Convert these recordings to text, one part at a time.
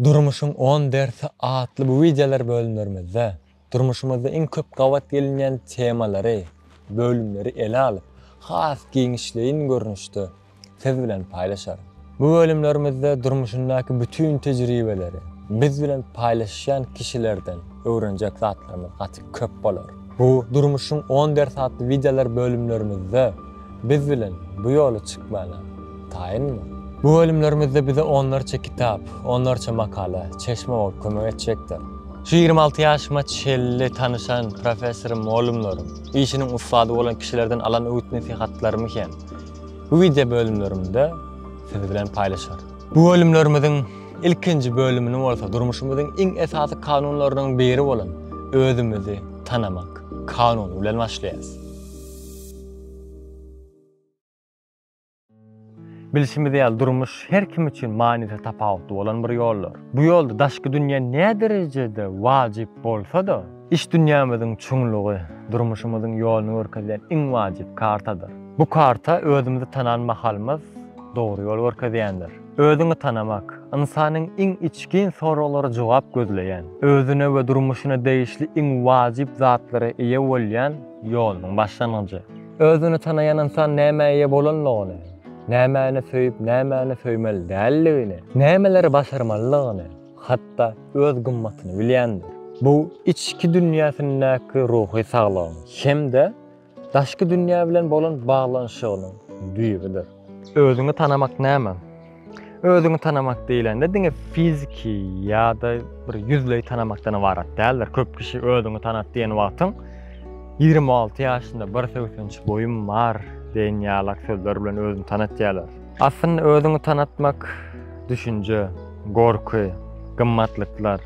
Durmuşyň on dersi atly bu wideolar bölümlerimizde durmuşymyzda iň köp gabat gelinýän temalary, bölümleri ele alyp, has giňişleýin görnüşde siz bilen paýlaşarys. Bu bölümlerimizde durmuşyndaky bütin tejribeleri, biz bilen paýlaşýan kişilerden öwrenjek zatlarymyz gaty köp bolar. Bu Durmuşyň on dersi atly wideolar bölümlerimizde Biz bilen bu ýola çykmana taýynmy? Bu bölümlerimizde bize onlarça kitap, onlarça makala, çeşme bolup kömek etjekdir. Şu ýigrimi alty ýaşyma çenli tanyşan professorym, mugallymlarym, işiniň ussady bolan kişilerden alan öwüt-nesihatlarymy hem bu wideo bölümlerimde siz bilen paýlaşaryn. Bu bölümlerimiziň ilkinji bölümini bolsa durmuşymyzyň iň esasy kanunlarynyň biri bolan özümizi tanamak kanuny bilen başlaýarys. Bilşimiz ýaly, durmuş her kim üçin manysy tapawutly bolan bir ýoldur. Bu ýolda daşky dünýä näderejede wajyp bolsa-da, iç dünýämiziň çuňlugy durmuşymyzyň ýoluny görkezýän iň wajyp kartadyr. Bu karta özümizi tanan mahalymyz dogry ýol görkezýändir. Özüňi tanamak, ynsanyň iň içgin soraglara jogap gözleýän, özüne we durmuşyna degişli iň wajyp zatlara eýe bolýan, ýolunyň başlangyjy. Özüni tanaýan ynsan nämä eýe bolanlygyny, nämäni söýüp, nämäni söýmeli däldigini, nämeleri başarmalydygyny, hatda öz gymmatyny bilýändir. Bu içki dünýäsindäki ruhy saglygyň hem-de daşky dünýä bilen bolan baglanyşygynyň düýbüdir. Özüňi tanamak näme? Özüňi tanamak diýlende diňe fiziki ýa-da bir ýüzleý tanamakdan ybarat däldir. Köp kişi özüňi tanat diýen wagtyň 26 ýaşynda bir sögsenç boýum bar diýen ýalak sözler bilen özüni tanatýarlar. Aslynda özüňi tanatmak düşünje, gorky, gymmatlyklar,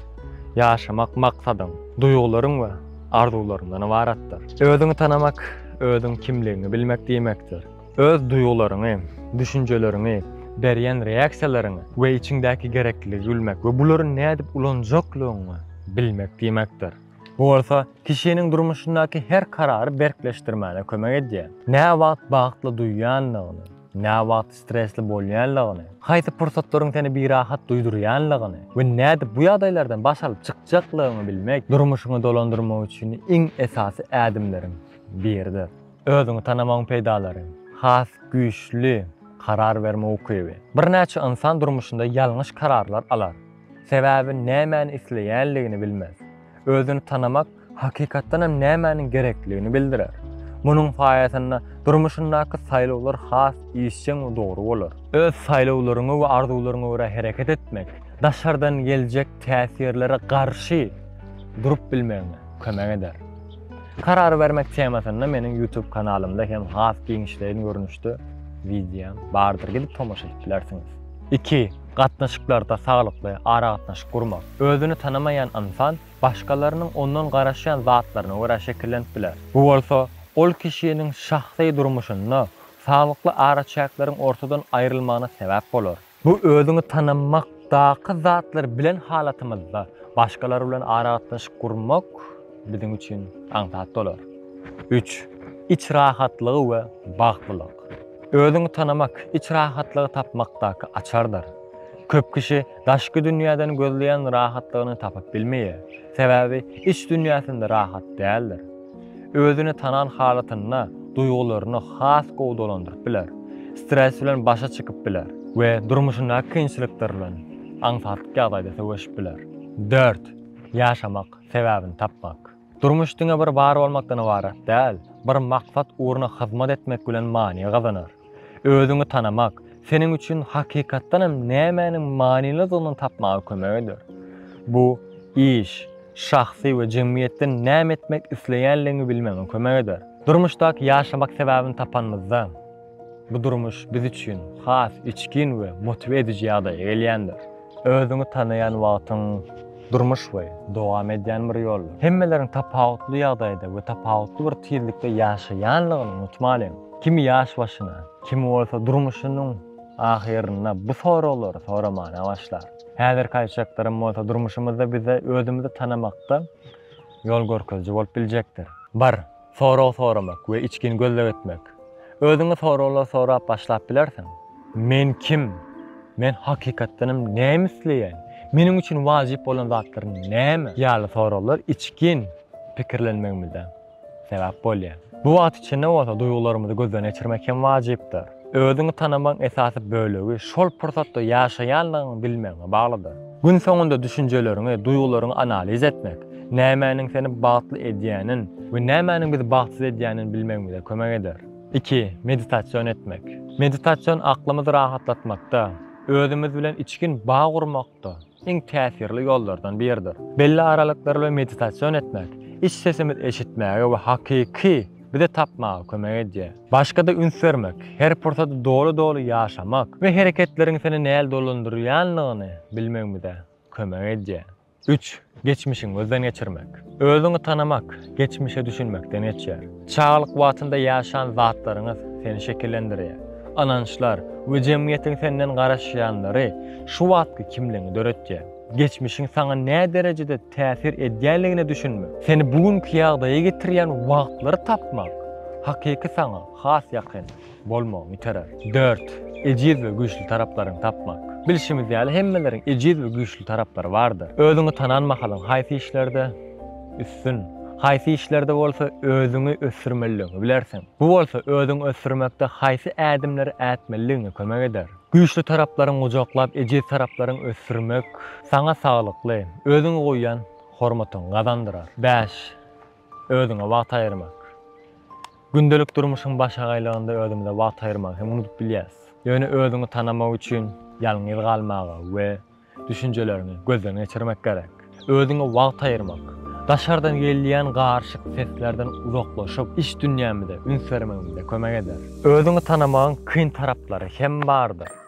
ýaşamak maksadyň, duýgularyň we arzuwlaryňdan ybaratdyr. Özüňi tanamak, özüň kimligiňi bilmek diýmekdir. Öz duýgularyňy, düşünjeleriňi, berýän reaksiýalaryňy we içiňdäki gerekliligi bilmek we bulary nädip ulanjaklygyňy bilmek diýmekdir. Bu bolsa kişiniň durmuşyndaky her karary berkleşdirmäne kömek edýär. Näwagt bagtly duýýanlygyňy, näwagt stresli bolýanlygyňy, haýsy pursatlaryň seni birahat duýdurýanlygyňy we nädip bu ýagdaýlardan baş alyp çykjaklygyňy bilmek durmuşyňy dolandyrmak üçin iň esasy ädimleriň biridir. Özüňi tanamagyň peýdalary. Has güýçli karar berme ukyby. Birnäçe ynsan durmuşynda ýalňyş kararlar alar. Sebäbi nämäni isleýänligini bilmez. Özüni tanamak hakykatdan hem nämäniň gerekligini bildirer. Munuň saýasynda durmuşyndaky saýlawlar has işjeň we dogry bolar. Öz saýlawlaryňa we arzuwlaryňa görä hereket etmek daşardan geljek täsirlere garşy durup bilmegiňe kömek eder. Karar bermek temasynda meniň YouTube kanalymda hem has giňişleýin görnüşde wideom bardyr, gidip tomaşa edip bilersiňiz. Iki, gatnaşyklarda saglykly aragatnaşyk gurmak. Özüni tanamaýan ynsan başgalarynyň ondan garaşýan zatlaryna görä şekillenip biler. Bu bolsa ol kişiniň şahsy durmuşynda saglykly araçäkleriň ortadan aýrylmagyna sebäp bolar. Bu özüňi tanamakdaky zatlar bilen halatymyzda başgalar bilen aragatnaşyk gurmak biziň üçin aňsat bolar. Üç. Iç rahatlygy we bagtlylyk. Özüňi tanamak iç rahatlygy tapmakdaky açardyr. Köp kişi daşky dünýäden gözleýän rahatlygyny tapyp bilmeýär, sebäbi iç dünýäsinde rahat däldir. Özüni tanan halatynda duýgularyny has gowy dolandyryp biler, stres bilen başa çykyp biler we durmuşyndaky kynçylyklar bilen aňsatlyk ýagdaýda söweşip biler. Dört, ýaşamak, sebäbini tapmak. Durmuş diňe bir bar bolmakdan ybarat däl, bir maksat ugruna hyzmat etmek bilen many gazanar. Özüňi tanamak seniň üçin hakykatdan hem nämäniň manylydygyny tapmaga kömek eder. Bu iş, şahsy we jemgyýetde näme etmek isleýänligiňi bilmegiňe kömek eder. Durmuşdaky ýaşamak sebäbini tapanymyzda, bu durmuş biz üçin has içgin we motiwe ediji ýagdaýa gelýändir. Özüňi tanaýan wagtyň durmuş we dowam edýän bir ýoldur. Hemmeleriň tapawutly ýagdaýda we tapawutly bir tizlikde ýaşaýanlygyny unutmalyň. Kimi ýaş başyna, kimi bolsa durmuşynyň ahyrynda bu soraglary soramana başlar. Häzirki aýtjaklarym bolsa durmuşymyzda bize özümizi tanamakda ýol görkeziji bolup biljekdir. Bir. Sorag soramak we içgin gözleg etmek. Özüňe soraglar sorap başlap bilersiň. Men kim? Men hakykatdanam näme isleýän? Meniň üçin wajyp bolan zatlar näme? Ýaly soraglar içgin pikirlenmegimize sebäp bolýar. Bu wagt içinde bolsa duýgularymyzy gözden geçirmek hem wajypdyr. Özüňi tanamagyň esasy bölegi şol pursatda ýaşaýanlygyňy bilmegiňe baglydyr. Gün soňunda düşünjeleriňi, duýgularyňy analiz etmek, nämäniň seni bagtly edýänin we nämäniň bizi bagtsyz edýänini bilmegimize kömek eder. Iki, meditasion etmek. Meditasion aklymyzy rahatlatmakda, özümiz bilen içgin bag gurmakda, iň täsirli ýollardan biridir. Belli aralyklar bilen meditasion etmek iç sesimiz eşitmäge we hakyky bizi tapmaga kömek edýär. Başgada üns bermek, her pursady doly-doly ýaşamak we hereketleriň seni näl dolandyrýanlygyny bilmegimize kömek edýär. Üç, geçmişiňi gözden geçirmek. Özüňi tanamak, geçmişe düşünmekden geçýär. Çagalyk wagtynda ýaşan zatlaryňyz seni şekillendirýär. Ynançlar we jemgyýetiň senden garaşýanlary şu wagtky kimligiňi döretýär. Geçmişiň saňa näderejede täsir edýänligine düşünmek, seni bu günki ýagdaýa getirýän wagtlary tapmak hakyky saňa has ýakyn. Bolmagyny iterer. Dört, ejiz we güýçli taraplaryňy tapmak. Bilşimiz ýaly, hemmeleriň ejiz we güýçli taraplary bardyr. Özüňi tanan mahalyň haýsy işlerde üstün, haýsy işlerde bolsa özüňi ösdürmelidigiňi bilersiň. Bu bolsa özüňi ösdürmekde haýsy ädimleri ätmelidigiňe kömek eder. Güýçli taraplaryňy gujaklap, ejiz taraplaryňy ösdürmek saňa saglykly, özüňe goýýan hormatyňy gazandyrar. Bäş, özüňe wagt aýyrmak. Gündelik durmuşyň başagaýlygynda özümize wagt aýyrmagy hem unudyp bilýäris. Ýöne özüňi tanamak üçin ýalňyz galmaga we düşünjeleriňi gözden geçirmek gerek. Özüňe wagt aýyrmak, daşardan gelýän garyşyk seslerden uzaklaşyp, iç dünýämize üns bermegimize kömek eder. Özüňi tanamagyň kyn taraplary hem bardyr.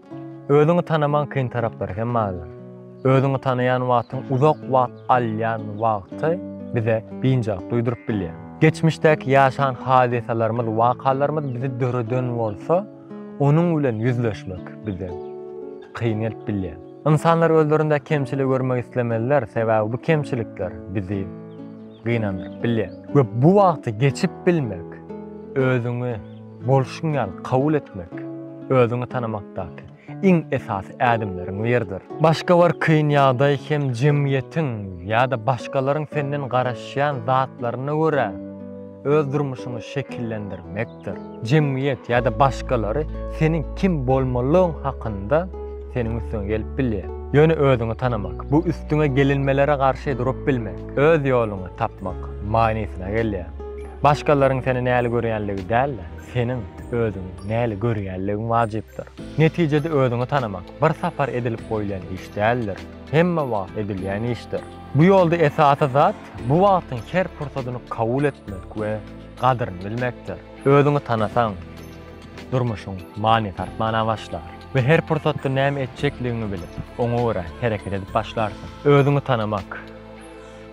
Özüňi tanamaň kyn taraplary hem bardyr. Özüňi tanaýan wagtyň uzak wagt alýan wagty bize biynjalyk duýduryp bilýär. Geçmişdäki ýaşan hadysalarymyz, wakalarymyz bizi döreden bolsa, onuň bilen ýüzleşmek bize kyn gelip bilýär. Ynsanlar özlerinde kemçiligi görmek islemezler, sebäbi bu kemçilikler bizi gynandyryp bilýär. We bu wagty geçip bilmek, özüňi. Bolşuň ýaly kabul etmek özüňi tanamakdaky iň esasy ädimleriň biridir. Başga bir kyn ýagdaý hem jemgyýetiň ýa-da başgalaryň senden garaşýan zatlaryna görä öz durmuşyňy şekillendirmekdir. Jemgyýet ýa-da başgalary seniň kim bolmalygyň hakynda seniň üstüňe gelip bilýär. Ýöne özüňi tanamak, bu üstüňe gelinmelere garşy durup bilmek, öz ýoluňy tapmak manysyna gelýär. Başgalaryň seni näli görýänligi däl-de, seniň özüňi näli görýänligiň wajypdyr. Netijede özüňi tanamak bir sapar edilip goýlan iş däldir, hemme wagt edilýän işdir. Bu ýolda esasy zat, bu wagtyň her pursadyny kabul etmek we gadyryny bilmekdir. Özüňi tanasaň, durmuşyň manysy artmana başlar we her pursatda näme etjekligiňi bilip, oňa görä hereket edip başlarsyň. Özüňi tanamak.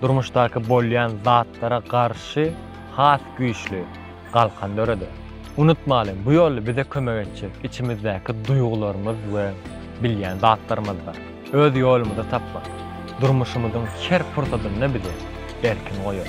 Durmuşdaky bolýan zatlara garşy has güýçli galkan döreder. Unutmalyň, bu ýol bize kömek etjek içimizdäki duýgularymyz we bilýän zatlarymyzdyr. Öz ýolumyzy tapmak, durmuşymyzyň her pursadynda bizi erkin goýar.